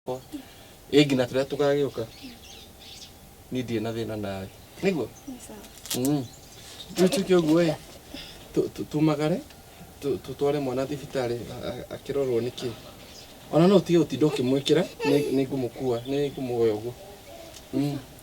yakwa ĩ nginya tũrĩa tũgagĩũka niĩ ndirĩ na thĩna nawe nĩguo Mm. rĩu tuke ũguo ĩ tu- tu- tumagare tu- tutware mwana thibitarĩ a- a- akĩrorwo nĩ kĩ ona no ũtige gũtinda ũkĩmwĩkĩra nĩ- nĩngũmũkua nĩngũmwoya ũguo Mm.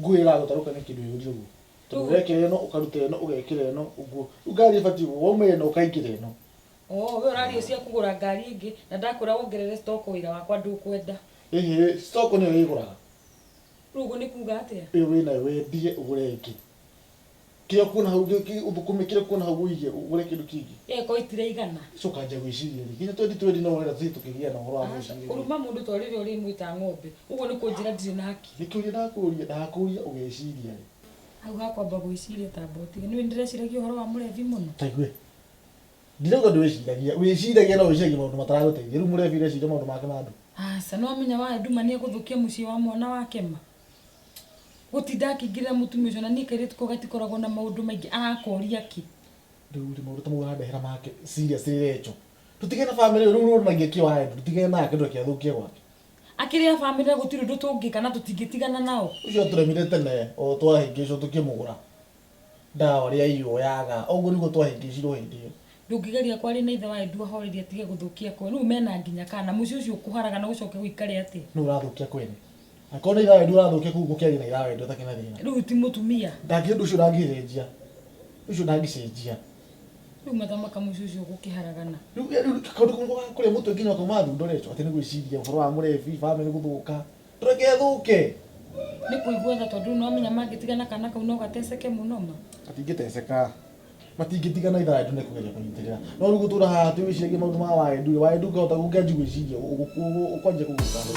nguo ĩragũta rũka nĩ kĩndũ ĩũrie ũguo tondũ ũrekĩra ĩno ũkaruta ĩno ũgekĩra ĩno ũguo rĩu ngari ĩbatiĩ ũguo wauma ĩno ũkaingĩra ĩno Oh, we ũraria ũcio akũgũra ngari ĩngĩ na ndakwĩra wongerere stock wĩra wakwa ndũkwenda ĩhĩ stock nĩyo ĩgũraga rĩu ũguo nĩ kuga atĩa ĩyo wĩnayo wendie ũgũre ĩngĩ Kĩrĩa ũkuona hau gĩ- gĩ- ũthũkũme kĩrĩa ũkuona hau ũige ũgũre kĩndũ kĩngĩ ĩĩ ko itiraigana coka anja gwĩciria rĩ nginya twendi twendi no wenda tũthiĩ tũkĩgĩa na ũhoro wa Aca, gwĩciria kũruma mũndũ to rĩrĩa ũrĩmwĩta ng'ombe ũguo nĩ kũnjĩra ndirĩ na hakiri nĩ kĩũria ndakũria ndakũria ũgeciria rĩ hau ha kwamba gwĩciria tamba ũtige nĩũĩ ndĩreciragia ũhoro wa mũrebi mũno taigue ndirauga ndwĩciragia wĩciragia no wĩciragia maũndũ mataragũteithia rĩu mũrebi ũreciria maũndũ make ma andũ aca nĩwamenya wa nduma nĩegũthũkia mũciĩ wa mwana wake ma Gũtinda akĩingĩrĩra mũtumia ũcio na niĩ kairĩtu kau gatikoragwo na maũndũ maingĩ arakoria kĩ? Rĩu rĩ maũndũ ta mau ũrandehera make serious rĩ Recho? Tũtige na family ĩyo rĩu ũronanagia kĩo Andrew tũtige nake ndũgakĩathũkie gwake. Akĩrĩ a family na gũtirĩ ũndũ tũngĩka na tũtingĩtigana nao. Ũcio atũremire tene o twahĩngĩcwo tũkĩmũgũra. Ndawa ũrĩa ĩyũyaga. Ũguo nĩguo twahĩngĩcirwo hĩndĩ ĩyo. Ndũngĩgeria kwaria na ithe wa Edu ahorerie atige gũthũkia kwao. Rĩu mena nginya kana. Mũciĩ ũcio ũkũharaga na ũcoke gũikare atĩa? Nũũ ũrathũkia kwene? Angĩkorwo nĩ ithe wa Edu ũrathũkia kũu gũkĩarie na ithe wa Edu atarĩ na thĩna. Rĩu ti mũtumia? Ndangĩ ũndũ ũcio ndangĩcenjia. Ũndũ ũcio ndangĩcenjia. Rĩu mathamaka mũciĩ ũcio gũkĩharagana. Rĩu kaũndũ kamwe nĩko ga kũrĩa mũtwe nginya ũkauma thundo Recho? Atĩ nĩ gwĩciria ũboro wa mũrebi, famĩlĩ gũthũka. ndũgethũke nĩ kũigua tha tondũ no menya mangĩtigana kana kau no gateceke mũno ma matingĩteceka matingĩtigana ithaa rĩtu nĩ kũgeria kũnyitĩrĩra no rĩu gũtũra haha tu wĩciragie maũndũ ma waendu rĩ waendu ũngĩhota ũngĩanji gwĩciria ũkwanjia kũgũta hau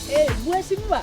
Hey, mheshimiwa,